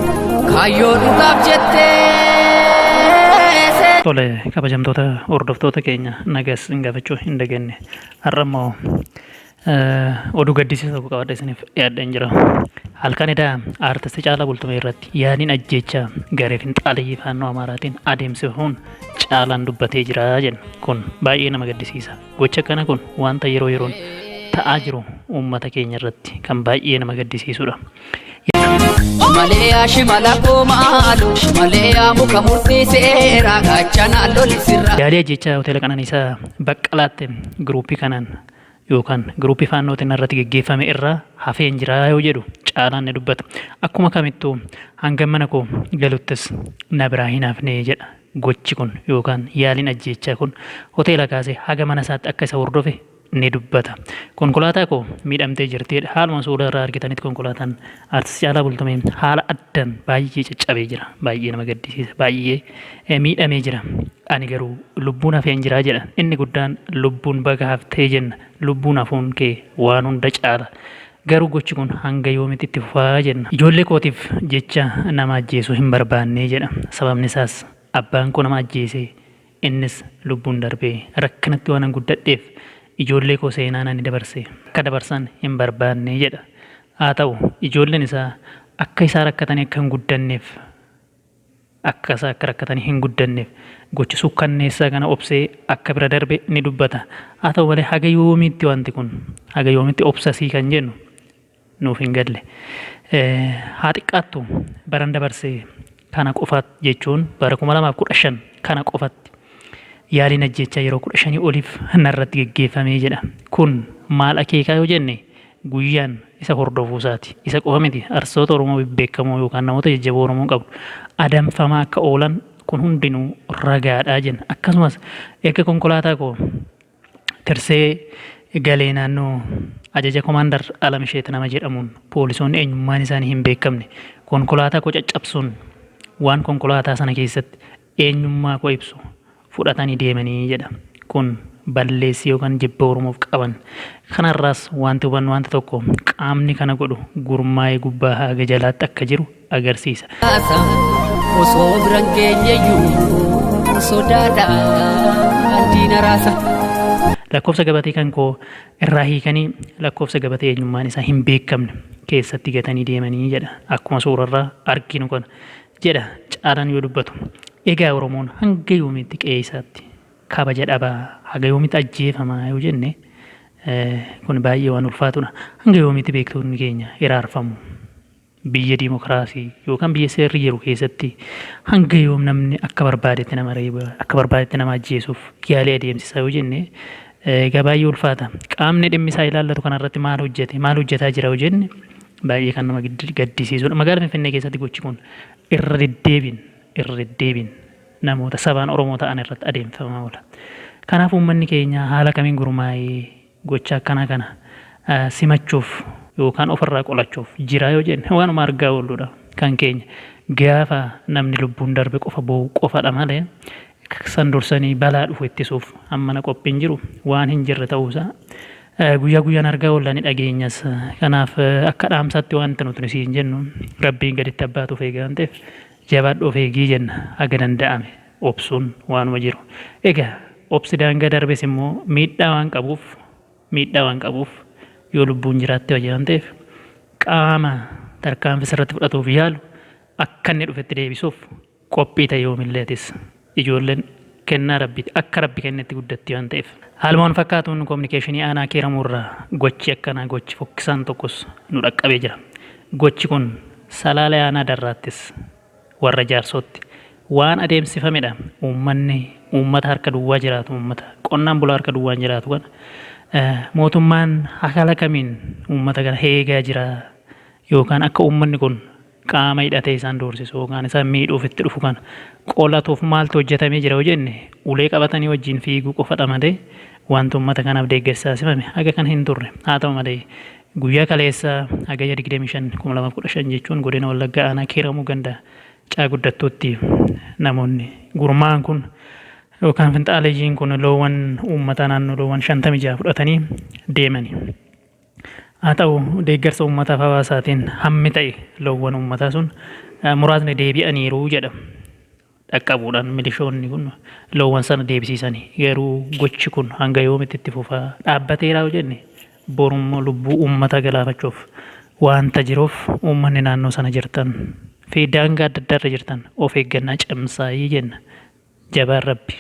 Kaayyoo dhugaaf jettee. Tole kabajamtoota hordoftoota keenya nagas isin gaafachuu hin dagenne. Har'a immoo oduu gaddisiisaa tokko qabadhe isiniif dhiyaadheen jira. Halkan edaa aartisti Caalaa Bultumee irratti yaaliin ajjeechaa garee finxaaleyyii faannoo Amaaraatiin adeemsifamuun Caalaan dubbatee jira jenna. Kun baay'ee nama gaddisiisa. Gocha akkana kun wanta yeroo yeroon ta'aa jiru uummata keenya irratti kan baay'ee nama gaddisiisudha. Shimalee yaa shimala koo maaloo Shimalee yaa muka murtii seeraa gaachanaa loli sirraa. Yaadee jecha hoteela qananiisaa baqqalaatti giruuppii kanaan yookaan giruuppii faannootiin irratti geggeeffame irraa hafeen jiraa yoo jedhu caalaan ni dubbata. Akkuma kamittuu hanga mana koo galuttis na biraa hin hafne jedha. Gochi kun yookaan yaaliin ajjeechaa kun hoteela kaasee haga mana isaatti akka isa hordofe ni dubbata. Konkolaataa koo miidhamtee jirti jedha. Haaluma suura irraa argitanitti konkolaataan Artist Caalaa Bultumee haala addan baay'ee caccabee jira. Baay'ee nama gaddisiisa. Baay'ee eh, miidhamee jira. Ani garuu lubbuun hafeen jira jedha. Inni guddaan lubbuun baga haftee jenna. Lubbuun hafuun kee waan hunda caala. Garuu gochi kun hanga yoomitti itti fufaa jenna. Ijoollee kootiif jecha nama ajjeesu hin barbaannee jedha. Sababni isaas abbaan koo nama ajjeesee Innis lubbuun darbee. Rakkinatti waanan guddadheef ijoollee koo seenaan ani dabarse akka dabarsan hin barbaadne jedha. Haa ta'u, ijoolleen isaa akka isaa rakkatanii akka hin guddanneef akka isaa akka rakkatanii hin guddanneef gocha suukkanneessaa kana obsee akka bira darbe ni dubbata. Haa ta'u malee haga yoomiitti wanti kun? Haga yoomitti obsasii kan jennu? nuuf hin galle. Haa xiqqaattu baran dabarse kana qofa jechuun bara 2015 kana qofatti yaaliin ajjeechaa yeroo 15 oliif narratti geggeeffamee jedha. Kun maal akeekaa yoo jenne guyyaan isa hordofuu isaati. Isa qofa miti arsoota Oromoo bebbeekamoo yookaan namoota jajjaboo Oromoon qabdu adamfamaa akka oolan kun hundinuu ragaadha jenna. Akkasumas erga konkolaataa koo Tirsee galee naannoo ajaja komaandar Alamsheet nama jedhamuun poolisoonni eenyummaan isaanii hin beekamne konkolaataa koo caccabsuun waan konkolaataa sana keessatti eenyummaa koo ibsu fudhatanii deemanii jedha. Kun balleessi yookaan jibba Oromoof qaban. Kanarraas wanti hubannu wanti tokko qaamni kana godhu gurmaa'ee gubbaa haga jalaatti akka jiru agarsiisa. Osoo biran geenyeyyuu sodaadhaan diina raasa. Lakkoofsa gabatee kan koo irraa hiikanii lakkoofsa gabatee eenyummaan isaa hin beekamne keessatti gatanii deemanii jedha. Akkuma suurarraa arginu kana jedha Caalaan yoo dubbatu. Egaa Oromoon hanga yoomiitti qe'ee isaatti kabaja dhabaa haga yoomiitti ajjeefamaa yoo jenne kun baay'ee waan ulfaatudha. Hanga yoomiitti beektoonni keenya hiraarfamu. Biyya dimokraasii yookaan biyya seerri jiru keessatti hanga yoom namni akka barbaadetti nama reeba, akka barbaadetti nama ajjeesuuf yaalii adeemsisa yoo jenne egaa baay'ee ulfaata. Qaamni dhimmi isaa ilaallatu kanarratti maal hojjete, maal hojjetaa jira yoo jenne baay'ee kan nama gaddisiisudha. Magaala Finfinnee keessatti gochi kun irra deddeebiin, irra deddeebiin namoota sabaan Oromoo ta'an irratti adeemsifamaa oola. Kanaaf uummanni keenya haala kamiin gurmaa'ee Gocha akkanaa kana simachuuf yookaan ofirraa qolachuuf jiraa yoo jenne waanuma argaa oolludha. Kan keenya gaafa namni lubbuun darbe qofa boo'u qofadha malee san dursanii balaa dhufu ittisuuf hammana qophiin jiru waan hin jirre ta'uusaa guyyaa guyyaan argaa oolla ni dhageenyas. Kanaaf akka dhaamsaatti waanti nuti siin jennu Rabbiin gaditti abbaatu of eega waan ta'eef jabaadhu of eegii jenna haga danda'ame. obsuun waanuma jiru. Egaa obsi daangaa darbes immoo miidhaa waan qabuuf miidhaa waan qabuuf yoo lubbuun jiraatte wayya waan ta'eef qaama tarkaanfii sirratti fudhatuuf yaalu akka inni dhufetti deebisuuf qophii ta'i yoomillee atis. Ijoolleen kennaa Rabbiiti. Akka Rabbi kennetti guddatti waan ta'eef. Haaluma wal fakkaatuun Kominikeeshinii Aanaa Kiiramuu irraa gochi akkanaa gochi fokkisaan tokkos nu dhaqqabee jira. Gochi kun Salaalee Aanaa Darraattis Warra Jaarsootti. Waan adeemsifame dha. Uummanni uummata harka duwwaa jiraatu, uummata qonnaan bulaa harka duwwaan jiraatu kana mootummaan haala kamiin uummata kana eegaa jira yookaan akka uummanni kun qaama hidhatee isaan doorsisu yookaan isaan miidhuuf itti dhufu kana qolatuuf maaltu hojjetamee jira yoo jenne ulee qabatanii wajjin fiiguu qofadha malee wanti uummata kanaaf deeggarsi taasifame haga kana hin turre. Haa ta'u malee Guyyaa kaleessaa Hagayya 25,2015 jechuun Godina Wallaggaa Aanaa Kiiramuu Ganda Caa Guddattuutti namoonni gurmaa'an kun yookaan finxaaleyyiin kun loowwan uummataa naannoo loowwan 56 fudhatanii deemani. Haa ta'u deeggarsa uummataaf hawaasaatiin hammi ta'e loowwan uummataa sun muraasni deebi'aniiru jedha. dhaqqabuudhaan milishoonni kun loowwan sana deebisiisani. Garuu gochi kun hanga yoomitti itti fufa? Dhaabbateera yoo jenne borummoo lubbuu uummataa galaafachuuf waanta jiruuf uummanni naannoo sana jirtan fi daangaa adda addaa irra jirtan of eeggannaa cimsaayii jenna. Jabaan Rabbi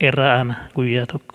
irra aana guyyaa tokko.